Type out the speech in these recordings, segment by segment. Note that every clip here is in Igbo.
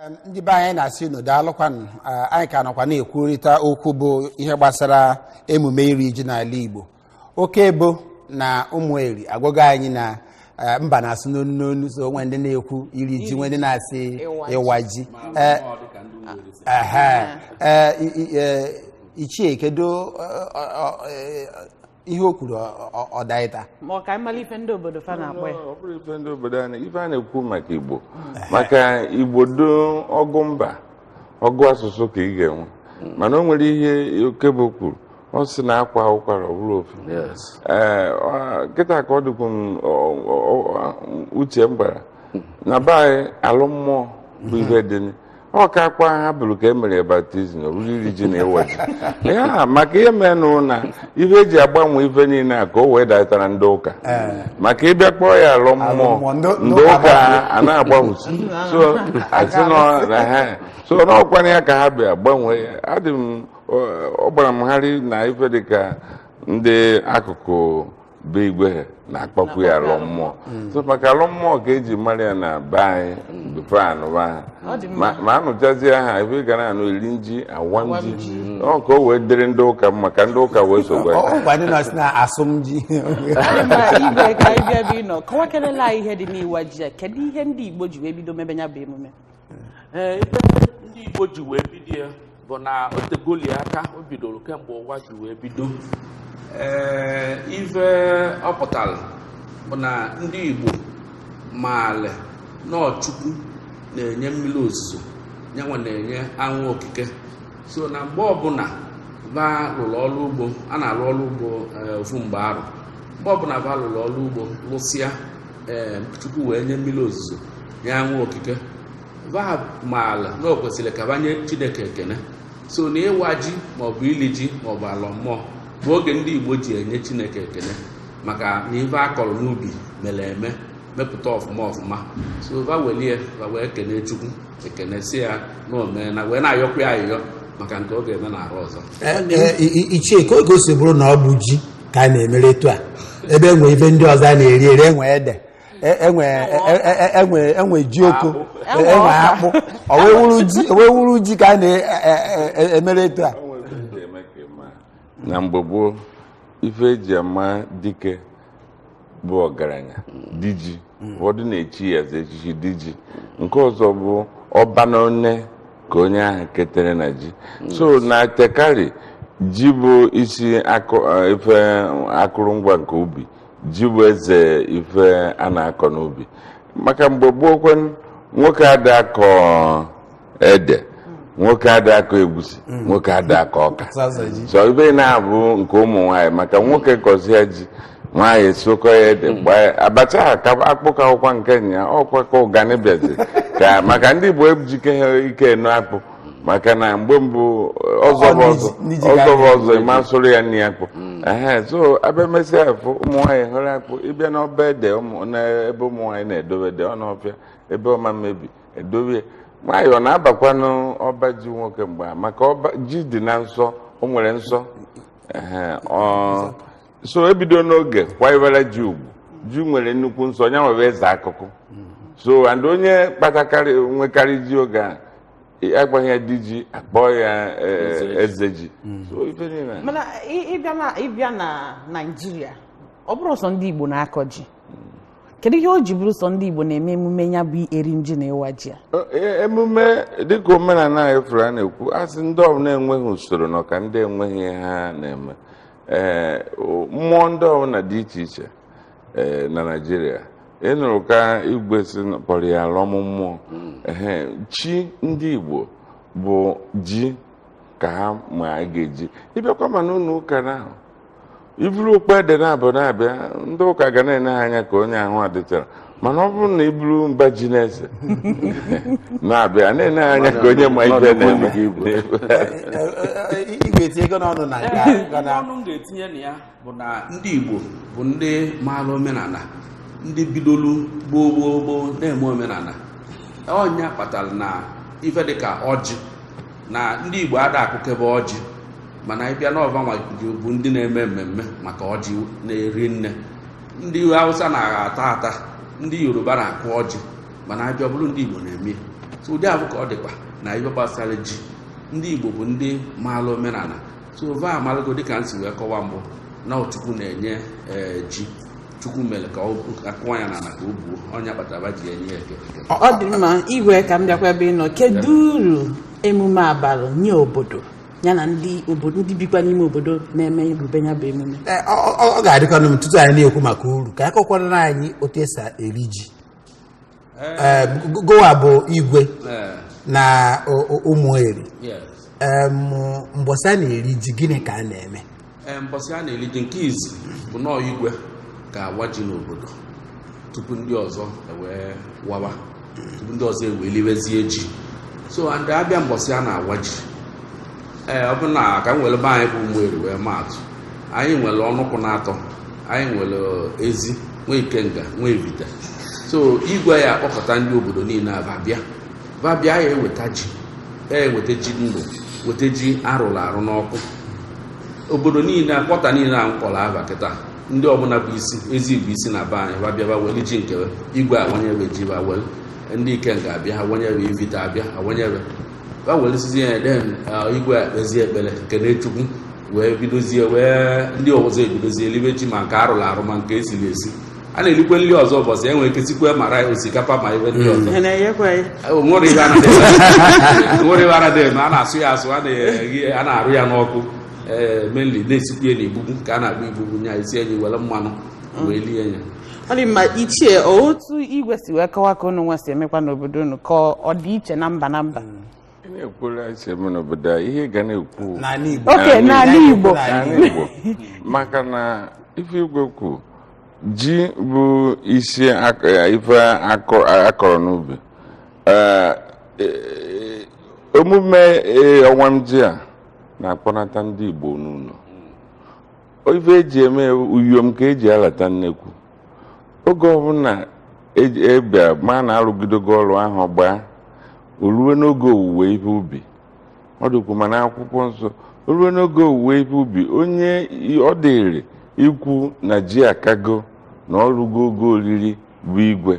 Em, ndị be anyị anyị na-asị unu daalụkwanụ Ah, anyị ka nọkwa na-ekwurịta okwu bụ ihe gbasara emume iri ji n'ala Igbo Okebo na Ụmụeri agwago anyị na eh, mba na-asụ n'onu n'onu so o nwe ndị na-ekwu iri ji nwe ndị na-asị Ịwa ji. ịwa ji Eh, ehe. Eh, i- i- eh, ichie kedu eh, ọ- ọ- eh, ihe o kwuru ọ- ọ- ọ daịta ma ọ ka anyị mara ife ndị obodo fa na-akpọ ya Ọ bụrụ ife ndị obodo anyị ife a na-ekwu maka Igbo maka Igbo dị ọgụ mba ọgụ asụsụ ka ị ga-enwe mana o nwere ihe Okebo kwuru ọ sị na a kwaa ụkwara ọ bụrụ ofu Yes. Ee, ọ- kịta ka ọ dịkwu m ọ- ọ- ọ- uche m gbara na be anyị alọ mmụọ bụ ife dị ọ kakwa ha bụrụ ka e mere ya baptism ọ bụrụ iri ji na ịwa ji a maka ihe menụ na ife e ji agbanwe ife niile a ka o wee datara ndị ụka maka ịbịa kpọọ ya alọ mmụọ Alọ mmụọ, ndị- ndị ndị ụka ụka agbanwe. a na-agbanwusi so asị nọ na ha so n'ọkwana ya ka ha bịa gbanwee ya adị m ọ- ọ gbara m gharị na ife dịka ndị akụkụ be Igwe na-akpọkwu ya alọ mmụọ so maka alọ mmụọ ka e ji mara ya na be anyị before anụba ha Ọ dị mma. ma ma anụchazie ha ife ị ga na-anụ eri nji awa Awa nji nji. ọ ka o wee dịrị ndị ụka mma ka ndị ụka wee sokwa ya. Ọ gwa ndị nọọsụ na asụmji Anyị mara Igwe ka anyị bịa bụ ịnọ kọwa kelela anyị ihe dị n'ịwa ji a kedu ihe ndị Igbo ji wee bido mebe ya bụ emume Ee, ife ndị Igbo ji wee bido ya bụ na o tegoli aka o bidoro kemgbe ụwa ji wee bido ee ife ọ pụtara bụ na ndị Igbo maale na ọ Chukwu na-enye mmiri ozuzo nya nwa na-enye anwụ okike so na mgbe ọbụla ba lụrụ ọrụ ugbo a na-alụ ọrụ ugbo ee, ofu mgbe arọ mgbe ọbụla ba lụrụ ọrụ ugbo lụsịa ee Chukwu wee nye mmiri ozuzo nye anwụ okike va maala na o kwesịrị ka va nye Chineke ekene so na ịwa ji maọbụ ili ji maọbụ alọ mmụọ bụ oge ndị Igbo ji enye Chineke ekene maka na ife a kọrọ n'ubi mere eme mepụta ọfụma ọfụma so va welie va wee kene Chukwu ekene si ya na o meena wee na-ayọkwa ya ayịyọ maka nke ọ ga-eme na arọ ọzọ ichie kee ka o si bụrụ na ọ bụ ji ka a na-emere etu a ebe e nwe ife ndị ọzọ a na-eri eri e nwe ede e- enwe e- e- e- enwe enwe ji oko Enwe e- enwe ọka. akpụ o wee wụrụ ji o wee wụrụ ji ka a na-emere etu a na mgbe gboo ife e ji ama dike bụ ọgaranya di ji ụfọdụ na-echi ya eze echichi di ji nke ọzọ bụ ọba na one ka onye ahụ ketere na ji so na tekari ji bụ isi akụ- eh, ife akụrụngwa nke ubi ji bụ eze ife a na-akọ n'ubi maka mgbe gboo kwanụ nwoke ada akọ ede nwoke ada akọ egwusi nwoke ada akọ ọka Sọsọ ji. so ife na-abụ nke ụmụ nwaanyị maka nwoke kọzie ji nwaanyị sokọ ya ede gbaa ya. abacha ha ka akpụkọ akwụkwọ nke nya ọkwa ka ụgani bịazi ka maka ndị Igbo ejike ha ike eno akpụ maka na mgbe mbụ ọzọ bụ ọzọ ọzọ bụ ọzọ ị ma sụrụ ya nri akpụ mm. so a bịa mesịa afụ ụmụ nwaanyị hụrụ akpụ ị bịa n'ọba ede n'ebe ụmụ nwaanyị na-edobe ede ọ n'ọfịa ebe ọ ma mebi e dobe nwaanyị ọ na-abakwanụ ọba ji nwoke mgbe a maka ọba ji dị na nsọ o nwere nsọ so e bido n'oge kwanyewere ji ugwu ji nwere nnukwu nsọ ya nwere eze akụkụ so and onye kpatakarị nwekarị ji oge a a kpọghị ya di ji a kpọọ ya eh, eze ji so ife niile a. mana ị- ị bịa na ị bịa na naijiria ọ bụrọ sọ ndị igbo na-akọ ji kedu ihe o ji bụrụ sọ ndị igbo na-eme emume ya bụ iri ji na ịwa ji a E- emume dịka omenala anyị fụrụ a na-ekwu asị ndị ọbụla enweghị usoro nọ ka ndị enweghị ihe ha na-eme ee mmụọ ndị ọbụla dị iche iche ee na naijiria ị nụrụ ka igwe si na- kpọrọ ya alọm mmụọ ehe chi ndị igbo bụ ji ka ha ma a ga-eji ị bịakwa ma n'ụlọ ụka na ahụ i buru okpu ede na-abụ na-abịa ndị ụka ga na-ene ha anya ka onye ahụ adịcharọ mana ọ bụrụ na i buru mba ji n'isi na-abịa a na-ele gị anya ka onye ma ife ọ na-eme ị ga-etinye ọnụ na nke a, ga na- ọnụ m ga-etinye na ya bụ na ndị Igbo bụ ndị maara omenala ndị bidolu gboo gboo gboo na-eme omenala ọ nya kpatara na ife dịka ọjị na ndị Igbo ada akụkebe ọjị mana ị bịa na ọ vanwa bụ ndị na-eme mmemme maka ọjị na-eri nne ndị hausa na-agha ata ata ndị yoruba na-akụ ọjị mana a bịa ọ bụrụ ndị igbo na-eme so ụdị afụ ka ọ dịkwa na ife gbasara ji ndị igbo bụ ndị maala omenala so va amalago dịka m si wee kọwa mbụ na ọ chukwu na-enye eh, ji chukwu mere ka a kụwa ya n'ala ka o buo ọ nya kpatara va ji enye ya ekene ọ dị mma igwe ka m bịakwa ebe ị nọ kedu uru emume a baalụ nye obodo ya na ndị obodo ndị bikwa n'ime obodo na-eme ebube ya bụ emume Ee, ọ ọ- ọ ga-adịkwanụ mma tutu anyị na-ekwu maka uru ka a kọkwara anyị otu e si eri ji Ee, Gụ- gụwa bụ igwe Eh, na o- o- Ụmụeri yes. Em, mbọsị a na-eri ji gịnị ka a na-eme Ee, mbọsị a na-eri ji nke izi bụ na ọ igwe ga-awa ji n'obodo tupu ndị ọzọ ewee wawa tupu ndị ọzọ ewee liwezie ji so ndị abịa mbọsị a na-awa ji ee ọ bụ na ka m were be anyị bụ Umueri wee maa atụ anyị nwere ọnụkwụ na atọ anyị nwere Ezi nwee Ikenga nwee Ivite so igwe ya akpọkọta ndị obodo niile aba bịa va bịa ya eweta ji ya eweta ji ndụ weta ji arụrụ arụ n'ọkụ obodo niile quarter niile a m kpọrọ ava kịta ndị ọbụla bụ isi Ezi bụ isi na be anyị va bịa va weli ji nke igwe awanye ve ji va weli ndị Ikenga abịa awanye ve Ivite abịa awanye ve va welisizie ya then igwe ekpezie ekpere kene chukwu wee bidozie wee ndị ọzọ ebidozie elibe ji ma nke arụrụ arụ ma nke esiri esi a na-erikwe nri ọzọ ụbọchị e nwere ike sikwe ma rice osikapa ma ive ndị ọzọ Ị na-enyekwa ya? O nwere ive a na-eme. O nwere ive a na-eme a na-asụ ya asụ a na-eghe- a na-arụ ya n'ọkụ ee mainly na-esikwu ya n'igbugbu ka a na-akpọ igbugbu nya esie nye i were mmanụ wee lie ya ọ dị mma ichie otu igwe si wee kọwa ka unu nwa si emekwa n'obodo unu ka ọ dị iche na mba na mba oke n'ala Igbo maka na ife igwe kwu ji bụ isi eh, ife a kọrọ n'ubi eh, eh, omume ịwa ji a na-akpọnata ndị Igbo n'ụlọ ife eji eme uyom ka eji alata nnekwu oge ọbụla a bịa e ma na arụgidogo ọrụ ahọ gbaa o ruwe n'oge owuwe ihe ubi ọ dịkwu ma na akwụkwọ nsọ o ruwe n'oge owuwe ihe ubi onye ọ dịrị ikwu na ji akago na o rugo ogo oriri bụ igwe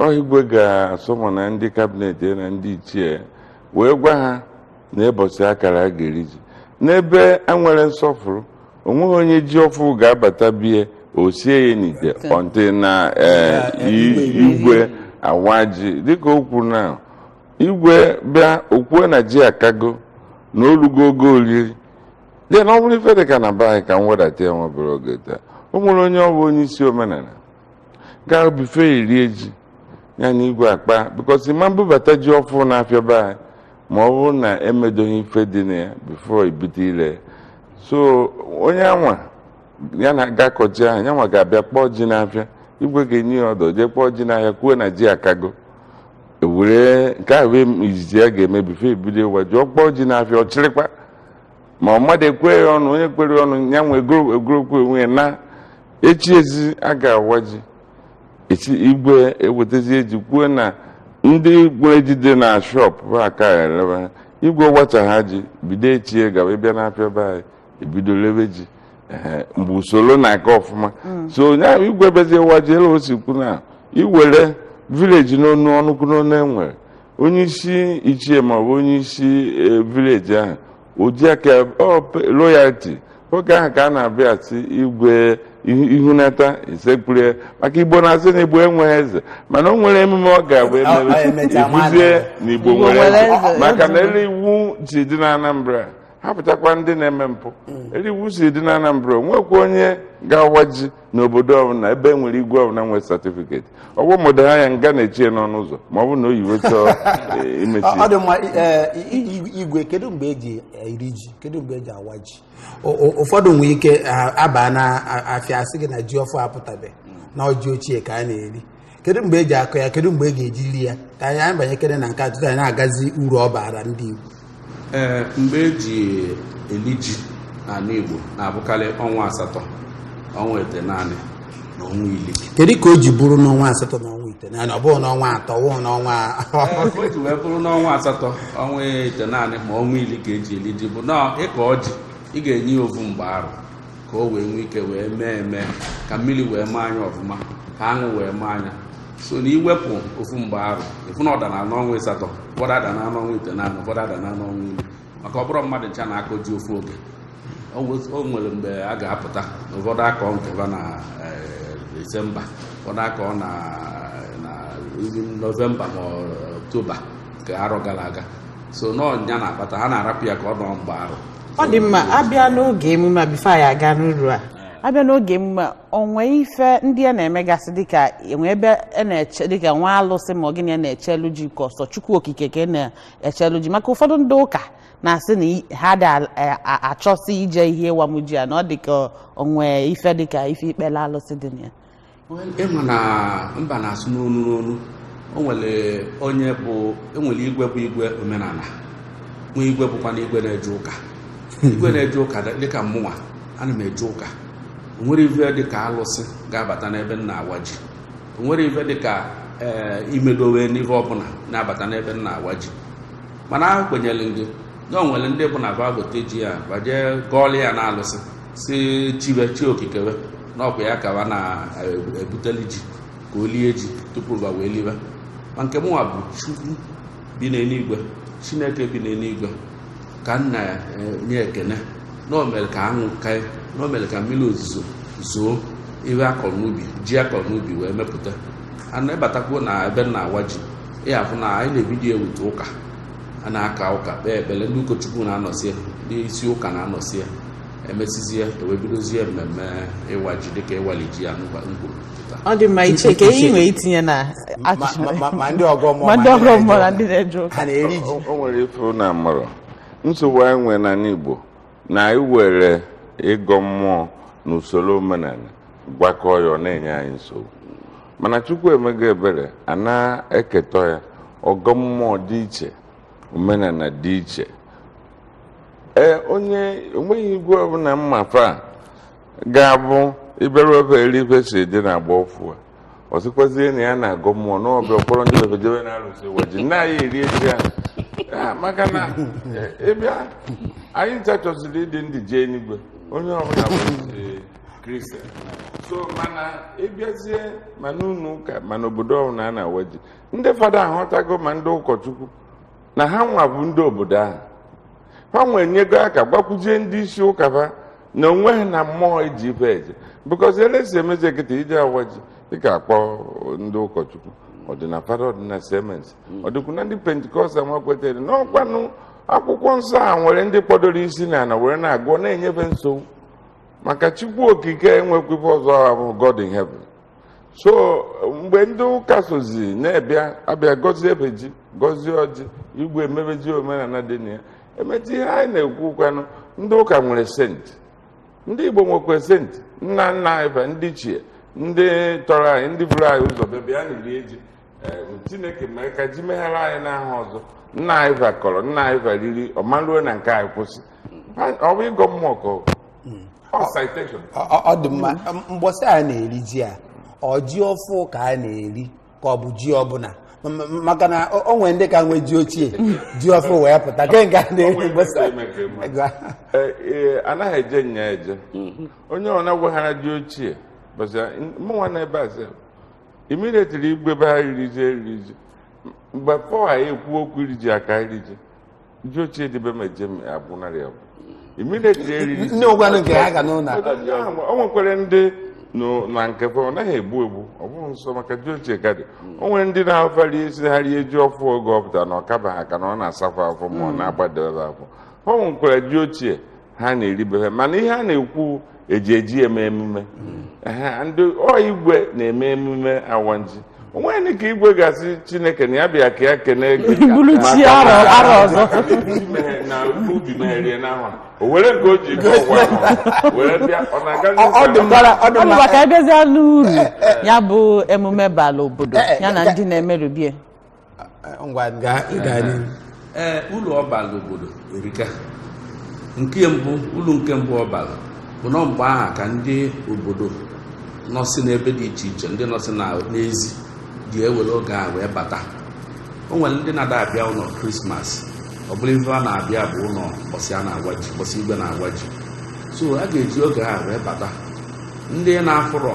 ọ igwe ga-summon ndị cabinet na ndị ichie wee gwa ha na ụbọsị a kara a ga-eri ji n'ebe enwere nsọfụrụ o nweghị onye ji ọfụụ ga-abata be ye o sie ya n'ite until na eh, i- igwe awa ji dịka o kwuru na igwe bịa o kwue na ji akago na o lugo ogo oriri then ọ bụrụ ife dị ka na be anyị ka m wedata ya n'ebe a ga-aghọta o nwere onye ọ bụ onye isi omenala gaa before e rie ji ya na igwe akpa because a ma-ebubata ji ọfụrụ n'afịa be anyị ma ọ bụrụ na emedoghị ife dị na ya before e bido ile ya so onye anwa ya na ga-akpọ ji ahụ ya nwa ga-abịa kpọọ ji n'afịa igwe ga-enye ya order jee kpọọ ji n'ahịa kwuo na ji akago were nke ahụ bụ ive izizi a ga-eme before e bido ịwa ji ọ kpọọ ji n'afịa ọ chịrịkwa ma ọ mmadụ ekwe ya ọnụ onye kwere ọnụ ya nwe egorokwu onwe ya na echi ezi a ga-awa ji echi igwe ewetazie ji kwuo na ndị nwere ji dị na shọp bụ aka eleba igwe wachaa ji bido echi e gawa ịbịa n'afịa be anyị ebido lebe ji mgbe usoro na-aga ọfụma mm. so onye ahụ igwe bezie waa ji elu o si kwu na iwere vileji n'onu ọnụkwụ n'onu e nwere onye isi ichie maọbụ onye isi vileji ahụ o ji aka loyalti oge ahụ ka a na-abịa si igwe ihunata isekpuru maka igbo na-asị na igbo enweghị eze mana o nwere emume ọ ga-abụ e mee ị fụzie na igbo nwere eze maka na elu iwu si dị na anambra hapụchakwa ndị na-eme mpụ elu iwu si dị na anambra o nwekwa onye ga-awa ji n'obodo ọbụla ebe e nwere igwe ọbụla nwere satifiketi ọ bụ mmadụ ha ya nga na-echie n'ọnụ ụzọ ma ọ bụ na o yiwe chọọ eh, imechi ọ ọ dị mma eh, i- i- igwe kedu mgbe eji eri ji kedu mgbe eji awa ji O- o- ụfọdụ nwere ike ah, abaa na afịa asị gị na ji ọfụụ apụtabe na ọ ji ochie ka a na-eri kedu mgbe eji akọ ya kedu mgbe e ga-eji ri ya ka anyị anyị banyekere na nke a tutu anyị na-agazi uru ọ baara ndị Igbo ee mgbe eji eli ji n'ala Igbo na-abụkarị ọnwa asatọ ọnwa itenaanị na ọnwa ili kedu ka o ji bụrụ n'ọnwa asatọ na ọnwa itenaanị ọ bụghị n'ọnwa atọ ọ bụ n'ọnwa o ji wee bụrụ n'ọnwa asatọ ọnwa itenaanị ma ọnwa ili ka eji eli ji bụ na ị kọọ ji ị ga-enye ya ovu mgbe arọ ka o wee nwee ike wee mee eme ka mmiri wee maa nya ọfụma ka anwụ wee maa nya so na i wepụ ofu mgbe arọ ị fụ na ọ dara n'ọnwa ịsatọ ụfọdụ ada na n'ọnwa itenaanị ụfọdụ ada na n'ọnwa iri maka ọ bụrọ mmadụ ncha na-akọ ji ofu oge o nwe- o nwere mgbe a ga-apụta na ụfọdụ akọ nke va na eh, disemba ụfọdụ akọ na na nọvemba ma ọ oktoba nke arọ gara aga so na ọ nya na-akpata ha na-arapụ ya ka ọ nọọ mgbe arọ ọ dị mma abịa n'oge emume a bifo anyị aga n'uru a abịa n'oge emume a o nwe ife ndị a na-emegasị dịka e nwe ebe a na-eche dịka nwa alụsị ma ọ gịnị a na-echelu ji ka ọ sọ chukwu okike ka a na-echelu ji maka ụfọdụ ndị ụka na-asị na i- ha adị al- a- a- achọsị ije ihe ịwamuji a na ọ dịka o nwe ife dịka ife ikpele alụsị dị na ya ị ma na mba na-asụ n'onu n'onu o nwere onye bụ e nwere igwe bụ igwe omenala nwee igwe bụkwanụ igwe na-eje ụka igwe na-eje ụka dịka mmụnwa ana m eje ụka o nwerọ ive dịka alụsị ga-abata n'ebe m na-awa ji o nwerọ ive dịka ee eh, imedowe n'ive ọbụla na-abata n'ebe m na-awa ji mana ekwenyere m gị na o nwere ndị bụ na va gote ji a va je gọọlụ ya na alụsị si chi we chi okike we na ọkwa ya ka wa na-ebuteli ji ka o lie ji tupu wa wee liwe ma nke mụnwa bụ chukwu bi n'eluigwe chineke bi n'eluigwe ka m na-enye ekene na o mere ka anwụ kae na o mere ka mmiri ozuzo zoo ihe a kọrọ n'ubi ji a kọrọ n'ubi wee mepụta ana ị batakwuo na ebe m na-awa ji ị ya-afụ na anyị na-ebido ewute ụka a na-aka ụka kpee ekpere ndị ụkọchukwu na-anọsi ya ndị isi ụka na-anọsi ya e mesizie e wee bidozie mmemme ịwa ji dịka ịwali ji ya n'ụba ngwuru pụta ọ dị mma ichie ke ihe i nwere itinye na ma achịcha ma- ma- ma ndị ọgọ mmụọ ma ndị ọgọ mmụọ na ndị na-eje ụka ha na-eri ji o nwere ife na mụrụ nsogbu anyị nwere n'ala igbo na e were ịgọ mmụọ na usoro omenala gwakọọ ya ọ na-enye anyị nsogbu mana chukwu emego ebere a na-eketọ ya ọgọ mmụọ dị iche omenala dị iche ee onye o nweghị igwe ọbụla mmafe a ga-abụ ịbịaru ebe eri ife si dị na agba ọfụ a ọ sịkwazie na ya na-agọ mmụọ na ọbịa ọ kpọrọ ndị bebe jebe na arụsị ịwa ji nna anyị eri eji ahụ Ah, maka na eh, ị bịa, anyị ncha chọsiri ịdị ndụ jee enigwe onye ọbụla bụ eh, kristian so mana ị bịazie ma n'ụlọ ụka ma n'obodo ọbụla a na-awa ji ndị fada ahụtago ma ndị ụkọchukwu na ha nwa bụ ndị obodo ahụ ha nwa enyego aka gwakwuzie ndị isi ụka ha na o nweghị ana mmụọ e ji ife eje because ele si emezi kịta ije awa ji dịka akpọ ndị ụkọchukwu ọ dị na fada ọ dị na cms ọ dịkwu na ndị pentikọstal nwa kwetere na ọkwanụ akwụkwọ nsọ a nwere ndị kpọdoro isi na ala were na-agụ ọ na-enye fe nsogbu maka chukwu okike enwekwa ife ọzọ ọ bụ god in heaven so mgbe ndị ụka sozi na-abịa abịa gọzie ebe ji gọzie ọjị igwe emebezie omenala dị na ya emechie ihe anyị na-ekwu kwanụ ndị ụka nwere senti ndị igbo nwekwa senti nna nna anyị fa ndị ichie ndị tọrọ anyị ndị buru anyị ụzọ bịa bịa na iri eji chineke mere ka ji meghara anyị n'ahọ ọzọ nna anyị va kọrọ nna anyị va riri ọ ma ruo na nke anyị kwụsị ọ bụ ịgọ mmụọ ka ọ hmm. ọ dị mma mgbọsị a na-eri ji a ọ ji ọfụ ka a na-eri ka ọ bụ ji ọbụla maka na o nwere ndị ka nwee ji ochie ji ọfụ wee pụta ke nke a na-eri mgbọsị e, e, anaghị eje nya eje hmm. onye ọ na-agwaghara ji ochie bụzi mụnwa na ebe a immediately igwe be ha riri ji eriri ji mgbe pọl anyị ekwu okwu iri ji aka iri ji ji ochie dị be m eje abụnarị ya bụ immediately eriri ji nne ụgwanụ nke ha ga n'ụlọ o nwekwara ndị no- na nke fa ọ naghị egbu egbu ọ bụghị nsọ maka ji ochie ka dị o nwere ndị na-afa rie esi ha rie ji ọfụ oge ọ pụtara na ọ kabaha aka na ọ na-asa fa afọ ma ọ na-agbadebe afọ o nwekwara ji ochie ha na-eribe ha mana ihe a na-ekwu eji eji eme emume Ehe, ndị ọ igwe na-eme emume awanji onweghị ka igwe ga-asị chineke na ya bịa ka ya kene gị bulu chi maka arọ na- arọ ọzọ Chimere na ubi merie n'ahụ a. o were nke o ji ike ọgwụ ahụ were bịa ọ na-aga Ọ- ọ dị mma ọ dị ọ mma bụkwa ka a bịazie n'uru ya bụ emume bala obodo ya na ndị na-emerube ya ngwa gaa gaa n'ihu ee ulu ọ bala obodo erika nke mbụ ulu nke mbụ ọ bala bụ na mgbe aha ka ndị obodo nọsị n'ebe dị iche iche ndị nọsị na- n'ezi ji ewere oge a wee bata o nwere ndị na-ada abịa ụnọ krismas ọ bụrụ ife a na-abịa bụ ụnọ mbọsị a na-awa ji mbọsị igwe na-awa ji so a ga-eji oge a wee bata ndị na-afụrọ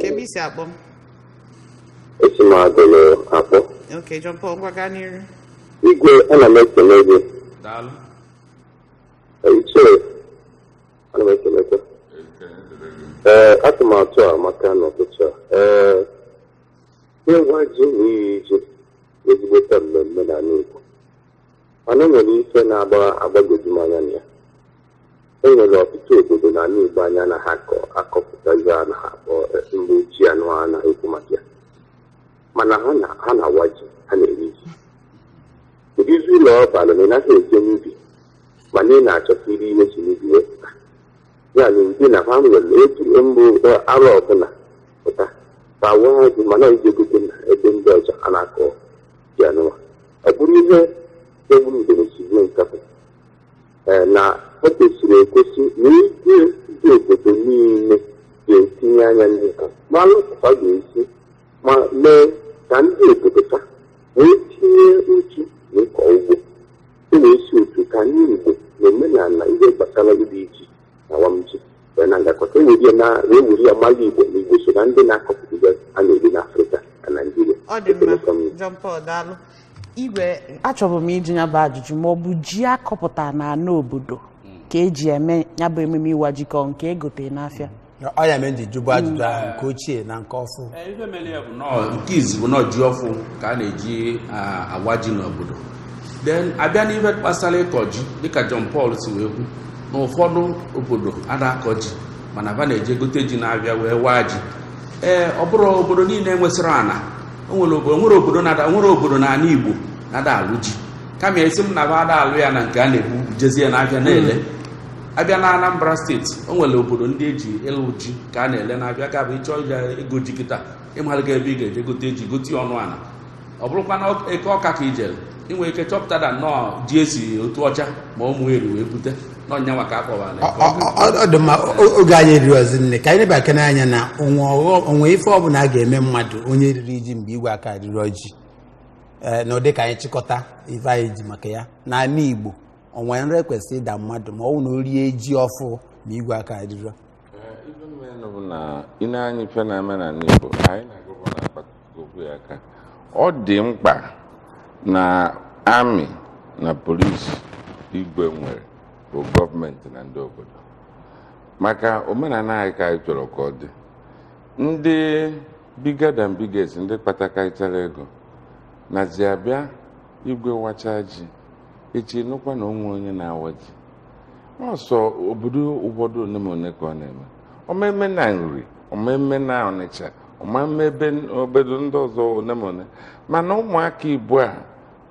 kebe i si akpọ m esi m Agụlụ akpọ ok john paul ngwa gaa n'iru igwe ana m ekele gị daalụ ichie ana m ekelekwa ekele dịrị gị ee atụmatụ a amaka n'ụtụtụ a ee ịwa ji na iri ji ezigbote mmemme n'ala Igbo mana o nwere ife na-agbagoju m anya na ya e nwere ọtụtụ obodo na ala Igbo anya na ha akọ akọpụta ihe a na ha akpọ eh, mgbe ji anụwa a na-ekwu maka ya mana ha na ha na-awa ji ha na-eri ji kedụzi uru ọ bara na ị naghị eje n'ubi mana ị na-achọta iri ihe si n'ubi wee pụta ya na ụdị na ha nwere otu mbụ eh, arọ ọbụla pụta ma awa ha ji mana e jee gote na ebe ndị ọzọ a na-akọ ji anụwa ọ bụrụ ihe egburu udene si gbuo nkapị ee, na o kwesịrị ekwesị na igwe ndị obodo niile ga-etinye anya n'ịka ma lụpụta ga-esi ma mee ka ndị obodo ka wee tinye uchu n'ịkọ ugbo e wee si otu ka ndị Igbo na omenala ihe gbasara iri ji awamji wee na-agakọta e were ya na e were ya mara igbo na igbo so na ndị na-akọpụta a na-eri n'afrịka na naijiria ọ dị mma John Paul daalụ igwe achọbụ m ịjụ ya bụ ajụjụ ma ọ bụ ji akọpụta na ana obodo ka eji eme ya bụ ememe ịwa ji ka ọ nke egote n'afịa ọ ya mere m ji jụbụ ajụjụ ahụ nke ochie na nke ọfụ Ee, ife mere ya bụ na ọ nke izi bụ na ọ ji ọfụ ka a na-eji a- awa ji n'obodo then a bịa n'ife gbasara ịkọ ji dịka John Paul si wee kwu na ụfọdụ obodo ada akọ ji mana ba na-eje egote ji na-abịa wee waa ji ee ọ bụrụ obodo niile nwesịrị ana o nwere obodo nwere obodo na ana Igbo na-ada alụ ji kama asị m na ba ada alụ ya na nke a na-ebujezie n'ahịa na-ele a bịa na Anambra steeti o nwere obodo ndị eji ịlụ ji ka a na-ele na-abịa ka bụ ị chọọ igo ji kịta ị marago ebe ị ga-eje gote ji gote ọnụ ana ọ bụrụkwa na eke ọka ka ijere ị nwere ike chọpụta na ọ ji e si Otuọcha ma Ụmụeri wee bute na ọ nyanwa ka a kpọwara ya. Ọ- ọ- ọ- ọ dị mma o- oge anyị erirọzi nne ka anyị nebakene anya na o nwe ọghọ- o nwe ife ọbụla a ga-eme mmadụ onye riri ji mgbe igwe aka erirọ ji ee na ụdị ka anyị chịkọta ife anyị ji maka ya n'ala igbo o nwe nra kwesịrị ịda mmadụ ma ọ bụ na o rie ji ọfụ ma igwe aka erirọ ife menụ bụ na i nee anya ife na-eme n'ana Igbo anyị na-agụbụ na akpatụkwu ya aka ọ dị mkpa na amị na polisi igwe nwere bụ gọọmenti na ndị obodo maka omenala anyị ka anyị chọrọ ka ọ dị ndị bigger than biggest ndị kpatakarịchara ego nazi abịa igwe wacha ji echi ị nụkwa na o nwe onye na-awa ji ọ sọ obodo ụfọdụ one ma one ka ọ na-eme ọ ma-eme na Nri ọ ma-eme na Ọnịcha ọ ma-eme ebe obodo ndị ọzọ one ma one mana ụmụaka ugbu a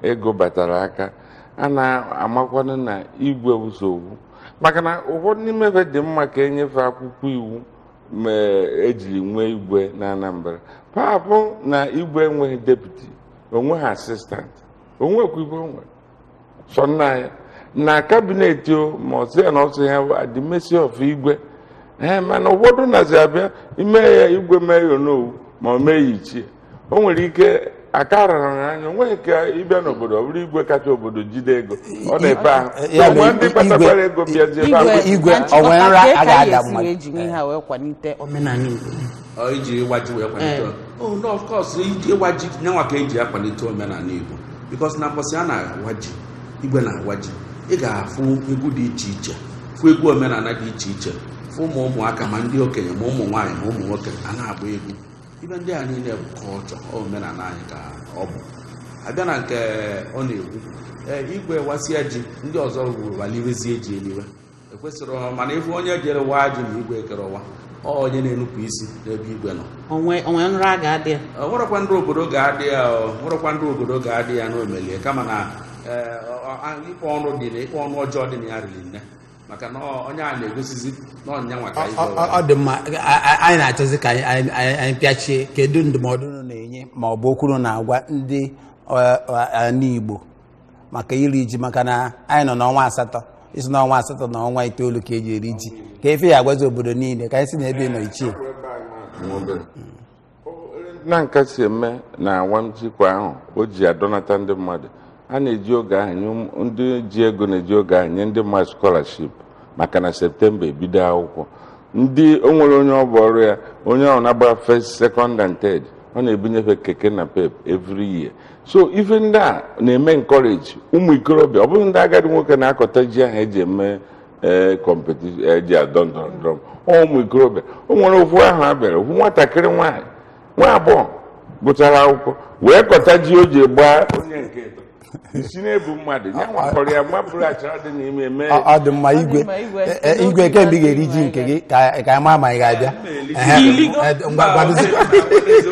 ego batara aka a na-amakwanụ na igwe wụ sọ ofu maka na ụfọdụ n'ime fa dị mma ka e nye fa akwụkwọ iwu ma e jiri nwee igwe na Anambra fa afụ na igwe enweghị deputi o nweghị asistant o nwekwa ife o nwere sọ naanị ya na kabinet o ma ọ sị ya na ọ sị ya at the mercy of igwe ee mana ụfọdụ nazi abịa ime ya igwe mee ya onowu ma ọ mee ya ichie o nwere ike aka rara ya anya o nweghị ka ị bịa n'obodo ọ bụrụ igwe kacha obodo jide ego ọ na-efe ahụ Ya na nwa ndị igwe- kpatakwara ego bịazie ebe ahụ. igwe- igwe- Ọ nwere nra a ga-ada mmadụ. e ji ihe ha wee kwalite omenala Igbo Ọ iji ịwa ji wee kwalite Ee. oh no of course iji ịwa ji nyanwa ka e ji akwalite omenala igbo because na mbọsị a na-awa ji igwe na-awa ji ị ga-afụ egwu dị iche iche fụ egwu omenala dị iche iche fụ ụmụ ụmụaka ma ndị okenye ma ụmụ nwaanyị ma ụmụ nwoke a na-agba egwu ife ndị a niile bụ culture omenala anyị ka ọ bụ a bịa na nke ọ na-ekwu ee igwe wasịa ji ndị ọzọ waliwezie ji eliwe ekwesịrọ mana ife onye jere waa ji na igwe akarọ waa ọ onye na-enupụ isi n'ebe igwe nọ o nwe o nwe nra a ga-ada ya Ọ nwerekwa ndị obodo ga-adị ya ọ nwerekwa ndị obodo ga-adị ya n'omelie kama na ee, ọ- ọ- a- ikpe ọnụ dị na ikpe ọnụ ọjọọ dị na ya riri nne maka na ọ- onye a na-egosizi na ọ nyanwa ka Ọ- igwe ọ- ụwa. ọ dị mma A- a- anyị na-achọzi ka anyị- anyị anyị- anyị pịachie kedu ndụmọdụ unu na-enye ma ọ bụ okwu unu na-agwa ndị ọ- ọ- ala Igbo maka iri ji maka na anyị nọ n'ọnwa asatọ i si n'ọnwa asatọ na ọnwa itoolu ka e ji eri ji ka efe ya agwazi obodo niile ka anyị si na ebe nọ ichie na nka si eme na awam ji kwa afọ o ji adọnata ndị mmadụ a na-eji oge ahụ nye ụmụ- ndị ji ego na-eji oge ahụ nye ndị mmadụ skọlaship maka na septemba ebido akwụkwọ ndị o nwere onye ọ bụ ọrụ ya onye ahụ na-agba first second and third ọ na-ebunye fa keke napep every year so ife ndị a na-eme encourage ụmụ ikorobịa ọ bụghị ndị agadi nwoke na-akọta ji ahụ eji eme ee kọmpetishọn eji adọ ndọrọ ndọrọ ọ ụmụ ikorobịa o nwere ofu ahọ a bịara ofu nwatakịrị nwaanyị nwa agbọghọ gụchara akwụkwọ wee kọta ji o ji gbaa onye nke ịtọ isi na-ebu mmadụ ya nwakọrọ ya mabụrụ achara dị n'ime mee Ọ ọ dị mma Ọ dị igwe mma, igwe. Eh, eh, igwe kee mgbe ị ga-eri ji nke gị ka ka anyị maa ma ị ga-abịa Ehe, eh, ngwa gwadozi-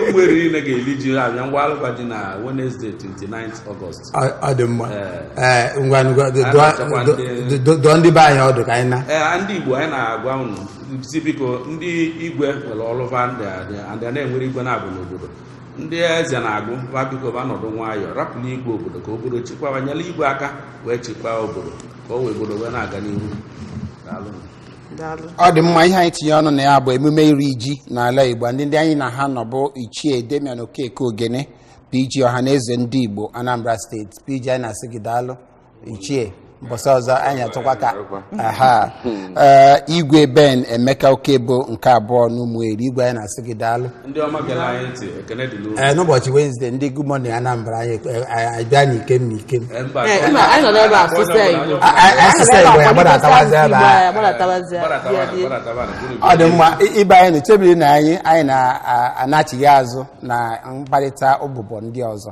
Ụmụeri ga-eli ji abịa ngwa alụkwa ji na Wednesday 29 August Ọ ọ dị mma Eh, Eh, ngwa ngwa dụọ- Anyị na-achọkwa dụọ- ndị- dụọ- dụọ ndị be anyị ọdụ ka anyị naa ee ndị Igbo anyị na-agwa unu sị biko ndị igwe nwere ọlụ va ndị a- ndị a na-enwere igwe naabọ n'obodo ndị eze na-agụ ba biko ba nọdụ nwayọọ rapụlụ igwe obodo ka obodo chịkwaba nyelụ igwe aka wee chịkwaa obodo ka o wee obodo wee na-aga n'ihu daalụ daalụ ọ dị mma ihe anyị tinye ọnụ na ya bụ emume iri ji n'ala igbo ndị ndị anyị na ha nọ bụ ichie damian okeke ogene pg ọhaneze ndị igbo anambra steeti pg anyị na-asị gị daalụ ichie mbọsị ọzọ anyị atụkwa ka aha Ee, igwe ben emeka okebo nke abụọ n'ụmụeri igwe anyị na-asị gị daalụ ndị ọma gere anyị ntị ekene dị n'obi Ee, n'ụbọchị wenezdee ndị good morning anambra anyị eh, anyị abịa n'ikem n'ikem Ee, mba, Ee, mba, anyị nọ n'ebe a sụsịa Igbo. A- a- a sụsịa Igbo, ya gbadatawazi ebe a. Ya gbadatawazi ebe a. Gbadatawa, Ya dị. gbadatawa, buru ọ dị mma i- ibe anyị na-echebirinụ anyị anyị na-anachigha azụ na mkparịta ụbụbọ ndị ọzọ